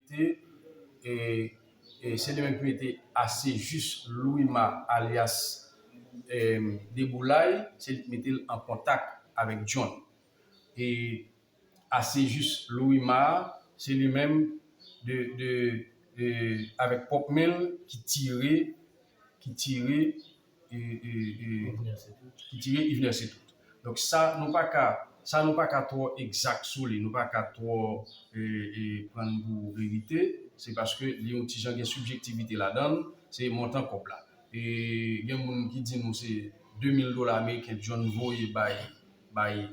Te se li menm ki mete ase jis Louima alyas Deboulay, se li ki mete l an kontak avèk John. E ase jis Louima a, se li menm avèk pwòp men l ki tire ki tire Yvner se tout. Donk sa nou pa ka sa nou pa ka twò egzak sou li, nou pa ka twò pran l pou verite, se paske li yon ti jan gen sibjektivite ladan l, se montan kòb la. Gen moun ki di nou se 2 mil dola ameriken John voye bay bay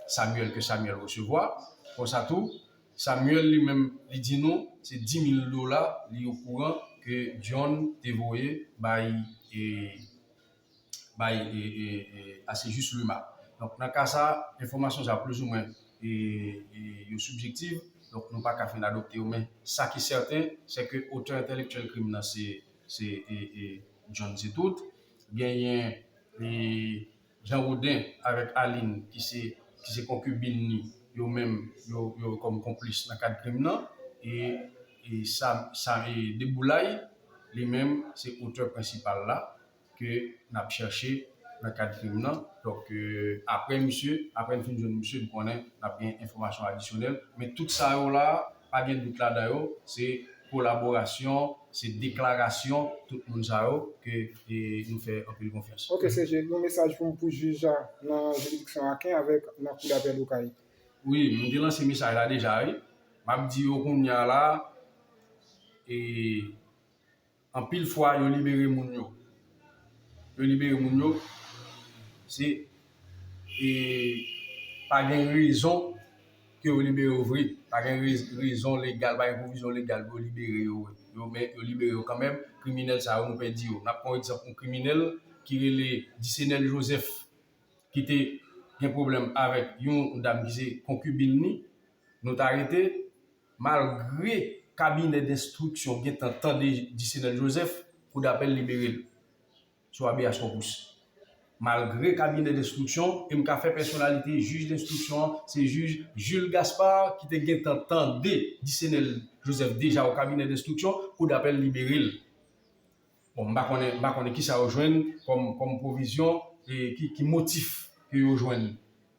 Samuel ke Samuel resevwa. Konsa tou Samuel li menm li di nou se 10 mil dola li okouran ke John te voye bay bay Acejus Luma. Donk nan ka sa enfòmasyon sa plizoumwen yo sibjektiv donk nou paka fin adopte yo men sa ki sèten se ke otè entèlektyèl krim nan se John Cetoute genyen Jean Rodin avèk Aline ki se ki se konkibin ni yo menm yo yo kòm konplis nan kad krim nan e e sa sa e Deboulay li menm se otè prensipal la ke n ap chèche nan kad krim nan donk aprè misye aprè n fin jwenn misye m konnen n ap gen enfòmasyon adisyonèl men tout sa yo la a pa gen dout ladan yo se kolaborasyon, se deklarasyon tout moun sa yo ke nou fè anpil konfyans. Ok CG, yon mesaj pou pou jij la nan jiridiksyon Aken avèk nan kou dapèl Okay. Wi, mwen te lanse mesaj la deja wi. Map di yo kounya la e anpil fwa yo libere moun yo. Yo libere moun yo se e pa gen rezon. ke yo libere yo vre pa gen rezon legal pa gen pwovizyon legal pou yo libere yo yo men yo libere yo kanmenm kriminèl sa yo nou pèdi yo nap pran egzanp yon kriminèl ki rele Dicenel Joseph ki te gen pwoblèm avèk yon dam ki se konkibin li nou ta rete malgre kabinè denstriksyon gentan tande Dicenel Joseph kou dapèl liberel. sou Habeas Corpus. Malgre kabinè denstriksyon e m ka fè pèsonalite jij denstriksyon an se jij Jules Gaspard ki te gentan tande Dicenel Joseph deja o kabinè denstriksyon, kou dapèl libere l. Bon, m pa konnen, m pa konnen kisa yo jwenn kòm pwovizyon e ki motif ke yo jwenn.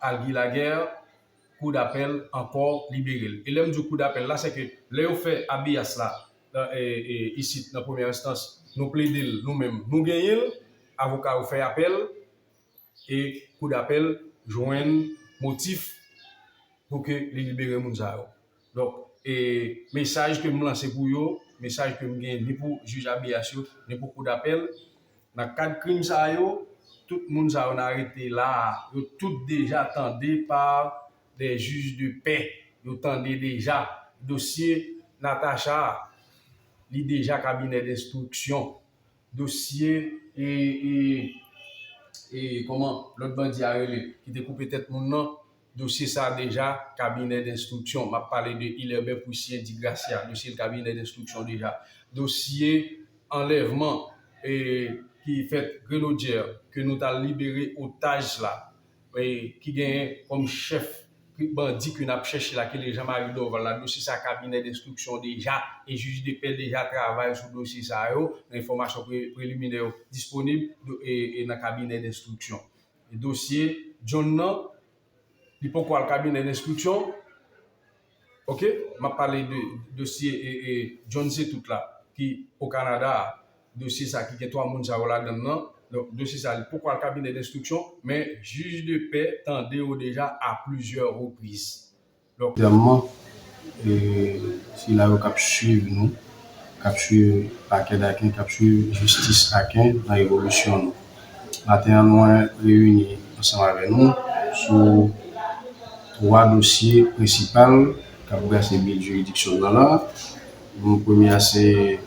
al guy laguerre kou dapèl ankò liberel e lèm diw kou dapèl la sèke lè yo fè abeyas la isit nan premyè enstans nou pledel nou menm nou genyenl avoka yo fè apèl e kou dapèl jwenn motif pouke li libere moun sa yo Donk, e mesaj ke m lanse pou yo, mesaj ke m gen ni pou jij abeyas yo, ni pou kou dapèl, nan kad krim sa yo, tout moun sa yo n arete la a, yo tout deja tande pa dè jij de pè, yo tande deja dosye Natacha a, li deja kabinè denstriksyon, dosye e e e kòman lòt bandi a rele ki te koupe tèt moun nan, dosye sa a deja kabinè denstriksyon, m ap pale de Ilerbe Poussien di Gracia, dosye l kabinè denstriksyon deja. Dosye anlèvman ki fèt Grenodyè ke nou t al libere otaj la ki genyen kòm chèf bandi ke n ap chèche la ki rele Jean Marie Dorval la, dosye sa a kabinè denstriksyon deja e jij de pè deja travay sou dosye sa yo, enfòmasyon preliminè yo disponib nan kabinè denstriksyon. dosye John nan li poko al kabinè denstriksyon ok map pale de dosye John se tout la ki o kanada a dosye sa ki gen 3 moun sa yo ladann nan donk dosye sa li poko al kabinè denstriksyon men jij de pè tande yo deja a plizyè repriz Premyèman, sila yo k ap suiv nou, k ap suiv Pakè Daken, k ap suiv jistis Aken nan evolisyon nou. Maten an mwen reyini ansanm avè nou sou 3 dosye prensipal k ap brase bil jiridiksyon nan la. Premye a se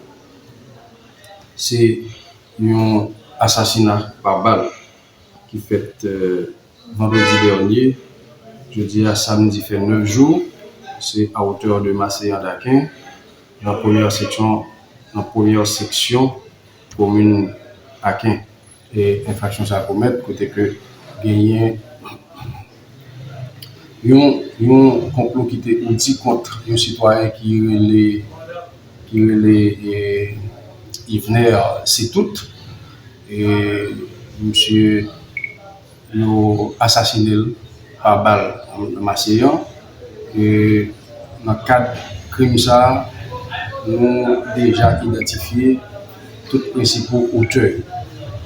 se yon asasina pa bal ki fèt vandredi dènye, jodi a samdi fè 9 jou, se a hauteur de Maseyan Daken, nan premyè seksyon nan premyè seksyon komin Aken. Enfraksyon sa komèt kote ke genyen yon konplo ki te oudi kont yon sitwayen ki rele ki rele Yvener Citoute. Misye yo asasine l pa bal nan Maseyon. Nan kad krim sa, nou deja idantifye tout prensipal otè yo.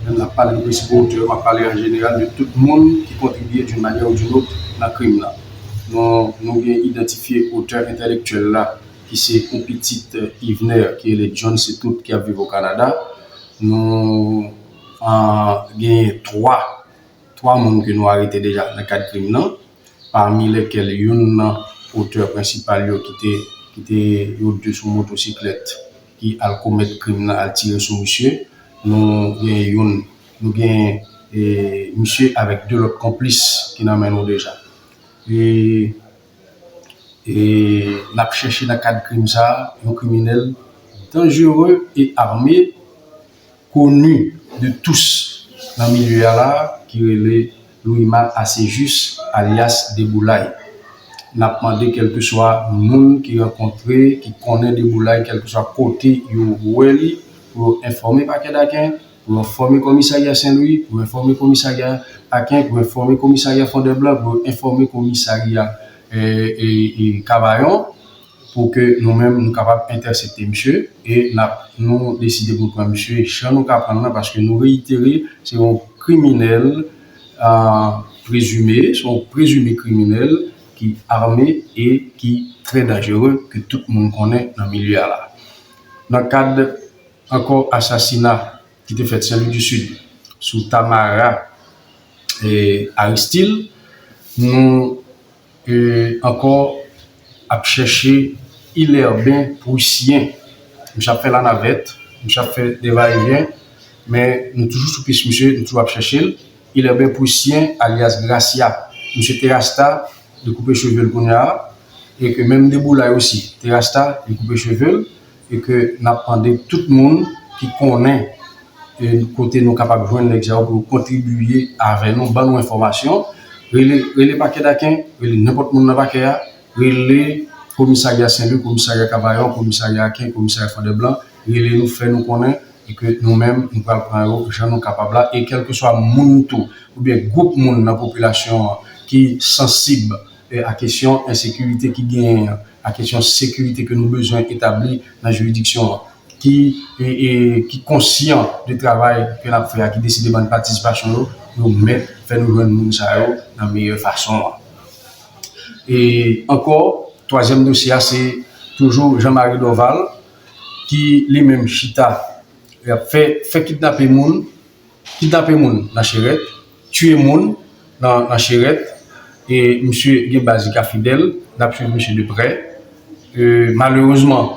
Lè map pale de prensipal otè yo, map pale an jeneral de tout moun ki kontribye doun manyè ou doun lòt nan krim nan. Nou gen idantifye otè entèlektyèl la ki se yon pitit Yvner ki rele John Cetoute ki ap viv o Kanada. Nou genyen 3 3 moun ke nou arete deja nan kad krim nan, pami lèkèl youn nan otè prensipal yo ki te ki te yo 2 sou motosiklèt ki al komèt krim nan al tire sou misye. Nou genyen youn nou genyen e misye avèk 2 lòt konplis ki nan men nou deja. E. e n ap chèche nan kad krim sa a yon kriminèl danjere e ame koni de tous nan milye a la a ki rele Louima Acejus alyas Deboulay. N ap mande kèlkeswa moun ki rankontre, ki konnen Deboulay kèlkeswa kote yo wè li pou yo enfòme Pakè Daken. pou yo enfòme Komisarya Sen Lwi, pou yo enfòme Komisarya Aken, pou yo enfòme Komisarya Fondèblan, pou yo enfòme Komisarya Kavayon, pou ke nou menm nou kapab entèsepte misye, e nap nou deside pou pran misye jan nou ka prann nan, paske nou reyitere se yon kriminèl prezime, se yon prezime kriminèl ki ame e ki trè danjere ke tout moun konnen nan milye a la. Nan kad. Ankò asasina ki te fèt Sen Lwi di Sid sou Tamara Aristil, nou ankò ap chèche Ilerben Prussien. Misye ap fè lanavèt, misye ap fè de va e vyen, men nou toujou sou pis misye, nou toujou ap chèche l. Ilerben Prussien alyas Gracia, misye te rasta, li koupe cheve l kounya e ke menm Deboulay osi te rasta, li koupe cheve l. e ke nap mande tout moun ki konnen yn kote nou kapab jwenn nèg sa yo pou yo kontribiye avè nou ban nou enfòmasyon rele rele pakè daken rele nenpòt moun nan pakè a rele komisarya senlwi komisarya kavayon komisarya aken komisarya fòdèblan rele nou fè nou konnen e ke nou menm nou pral pran yo jan nou kapab la e kèlkeswa moun tou oubyen gwoup moun nan popilasyon an ki sansib a kesyon ensekirite ki genyen an. a kesyon sekirite ke nou bezwen etabli nan jiridiksyon an, ki ki konsyan de travay ke n ap fè a, ki deside ban n patisipasyon yo, yo mèt fè nou jwenn moun sa yo nan meyè fason an. E ankò, twazyèm dosye a se toujou Jean Marie Dorval ki li menm chita, li ap fè fè kidnape moun, Kidnape moun nan cherèt, tuye moun nan cherèt e misye gen baz li ka fidèl, nap swiv misye de prè. Malerezman,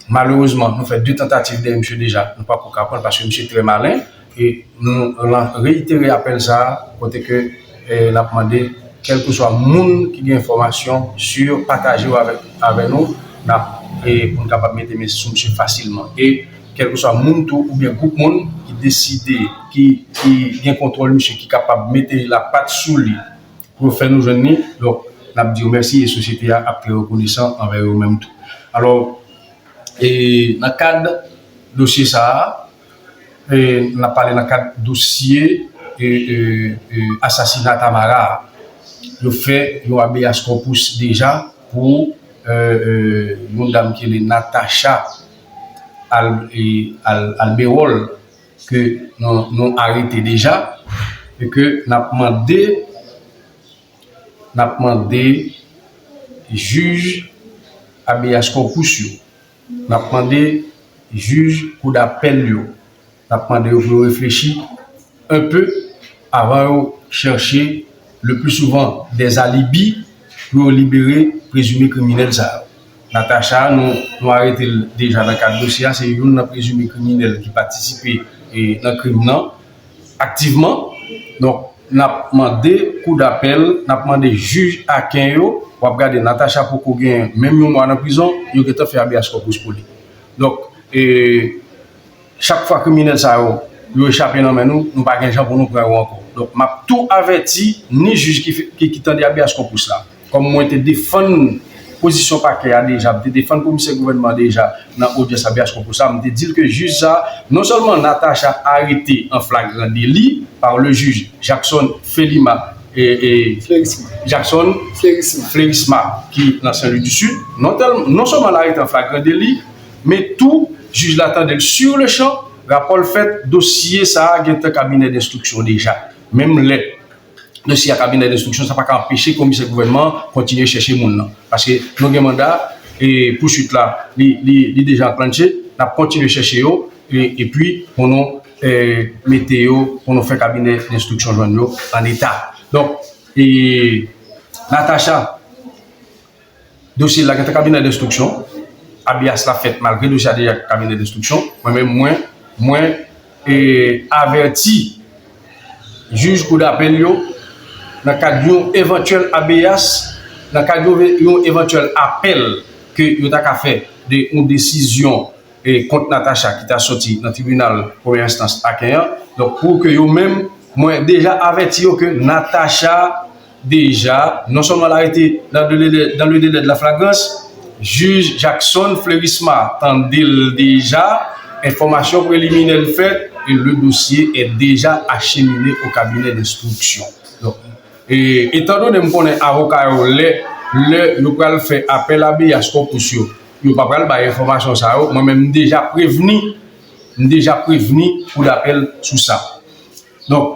malerezman nou fè 2 tantativ dèyè misye deja, nou pako ka pranl paske misye trè malen e nou reitere apèl sa kote ke Nap mande kelkeswa moun ki gen enfomasyon sur pataje yo avè nou nap pou nou kapab mete men sou misye fasilman e kelkeswa moun tou oubyen group moun ki deside ki gen kontrol misye ki kapab mete la pat sou li pou yo fè nou jwenn ni donk nap diyo mèsi e sosyete a ap trè rekonesan anvè yo menm tou alò e nan kad dosye sa a. nap pale nan kad dosye asasina Tamara a, yo fè yon habeas corpus deja pou yon dam ki rele Natacha Alberol ke nou arete deja e ke nap mande nap mande jij habeas corpus yo. N ap mande jij kou dapèl yo, n ap mande yo pou yo reflechi enpe avan yo chèche le pli souvan dè alibi pou yo libere prezime kriminèl sa yo. Natacha, nou arete l deja nan kad dosye a, se youn nan prezime kriminèl ki patisipe nan krim nan. aktivman donk nap mande kou dapèl nap mande jij aken yo wap gade Natacha poko gen menm yon mwa nan prizon yo gentan fè abeas kòpous pou li donk chak fwa kriminèl sa yo yo echape nan men nou nou pa gen jan pou nou pran yo ankò donk map tou avèti ni jij ki tande abeas kòpous la. Kòm mwen te defann pozisyon pakè a deja, m te defann komisè gouvènman an deja nan odyans a biyas konkou sa, m te di l ke jij sa non sèlman Natacha arete an flagran deli par le jij Jackson Felima Jackson Flerisma ki nan Sen Lwi di Sid, non sèlman l arete an flagran deli, men tou jij la tande l sur le chan, rapò l fèt, dosye sa gentan kabinè denstriksyon deja, menm lè. dosye a kabinè denstriksyon, sa pa ka anpeche komisè gouvènman an kontinye chèche moun nan. Paske nou gen manda e pouswit la li deja anklannche, n ap kontinye chèche yo epi pou nou mete yo, pou nou fè kabinè denstriksyon jwenn yo an eta. Donk, Natacha. Dosye la gentan kabinè denstriksyon, abias la fèt malgre dosye a deja kabinè denstriksyon, mwen menm mwen mwen avèti jij kou dapèl yo nan kad yon evantyèl abeas, nan kad yon evantyèl apèl ke yo ta ka fè de yon desizyon kont Natacha ki ta soti nan tribinal premyè enstans Aken an, donk pou ke yo menm mwen deja avèti yo ke Natacha. deja non sèlman l arete dans le delè de la flagrans, jij Jackson Fleurisma tande l deja, enfòmasyon preliminè n fèt e le dosye è deja achemine o kabinè denstriksyon. Donk, etandone m konnen avoka yo lè lè yo pral fè apèl abeas corpus yo, yo pa pral bay enfòmasyon sa yo, mwen menm m deja prevni m deja prevni kou dapèl sou sa. Donk.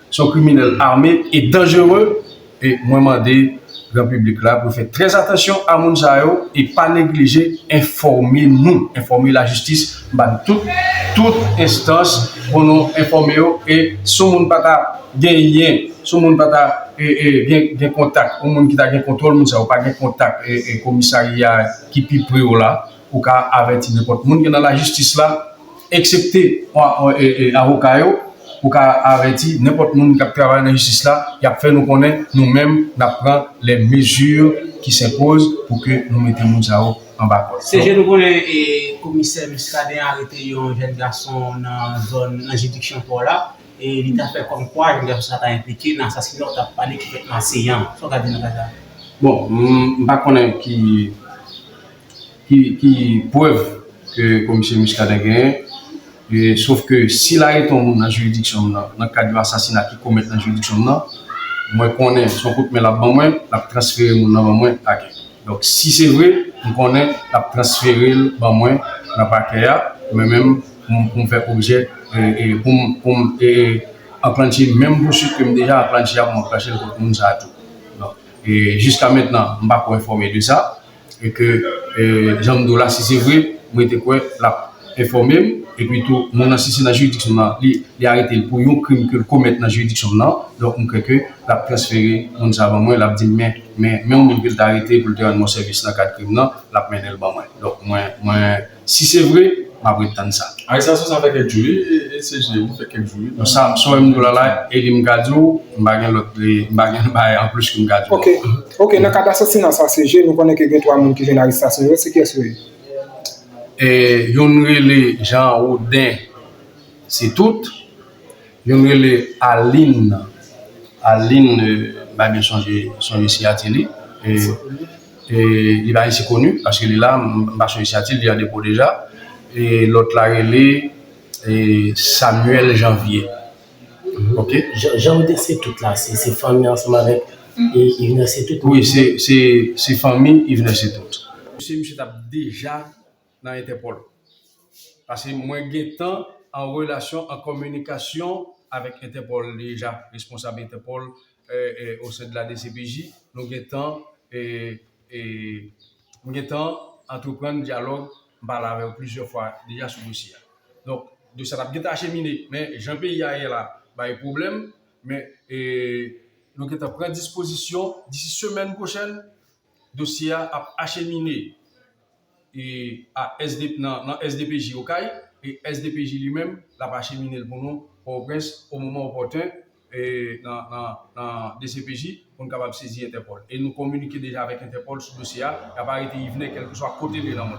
se yon kriminèl ame e danjere e mwen mande gran piblik la pou fè trè atansyon a moun sa yo e pa neglije enfòme nou, enfòme lajistis m ba nou tout, tout enstans pou nou enfòme yo e si yon moun pa ta genyen, si yon moun pa ta gen kontak, yon moun ki ta gen kontwòl moun sa yo pa gen kontak komisarya ki pi pre w la. Ou ka avèti nenpòt moun ki nan lajistis la, eksepte avoka yo. Ou ka avèti nenpòt moun k ap travay nan jistis la. Y ap fè nou konnen nou menm n ap pran lè mezi ki senpoz pou ke nou mete moun sa yo anba kòd. Se jan nou konnen komisè Muscadin arete yon jèn gason nan zòn nan jiridiksyon pò la e li ta fè kòm kwa jèn gason sa ta enplike nan asasina ou t ap pale ki fèt nan Aseyan. Sa w ka di nan ka sa? Bon, m pa konnen ki. ki prèv ke komisè Muscadin genyen, sof ke sil arete yon moun nan jiridiksyon m nan, nan kad yon asasina ki komèt nan jiridiksyon m nan, mwen konnen son kout men l ap ban mwen, l ap transfere moun nan ban mwen pakè. Donk si se vre, m konnen l ap transfere l ban mwen nan pakè a, mwen menm pou m fè objè, pou m anklannche menm pousuit ke m deja anklannche a pou m anklannche l kont moun sa a tou. Donk jiska mentnan m pa ko enfòme de sa. e ke janm diw la si se vre m rete kwè lap enfòmem epi tou moun nan si se nan jiridiksyon m nan li aretel pou yon krim kel komèt nan jiridiksyon m nan donk m kwè ke lap transfere moun sa ban mwen lap dim men menw moun kel ta arete poul te rann mwen sèvis nan kad krim nan lap mennenl ban mwen donk mwen. Si se vre, m ap ret tann sa. Arestasyon sa fè kèk jou wi ECG li fè kèk jou wi la. Samson em diw lala eli m ka diw m pa gen lòt m pa gen bagay anplis ke m ka diw ok ok nan kad asasina sa CG nou konnen ke gen 3 moun ki jwenn arestasyon yo se kiyès yo ye? Youn rele Jean Rodin se tout youn rele Aline Aline m pa byen sonje siyati li. Li pa ici koni paske li la mpa sou isyati li an depo deja e lot la rele Samuel janvier ok. Jan ou di se tout la se fanmi ansanm avèk Yvenè se tout? Wi se fanmi Yvenè se tout. Dosye misye tap deja nan entèpòl paske mwen gentan an relasyon an kominikasyon avèk entèpòl deja responsab entèpòl au sein de la dcpj, nou gentan m gentan antreprann dyalòg, m pale avè yo plizyè fwa deja sou dosye a. Donk, dosye a t ap gentan achemine, men jan peyi a ye la bay pwoblèm, men nou gentan pran dispozisyon disi semèn pwochèn dosye a ap achemine a sdp nan SDPJ Okay e SDPJ li menm l ap achemine l pou nou Pòtoprens o moman opòten nan dcpj pou n kapab sezi Entèpòl e nou kominike deja avèk Entèpòl sou dosye a y ap arete Yvenè kèlkeswa kote l ye nan mond lan.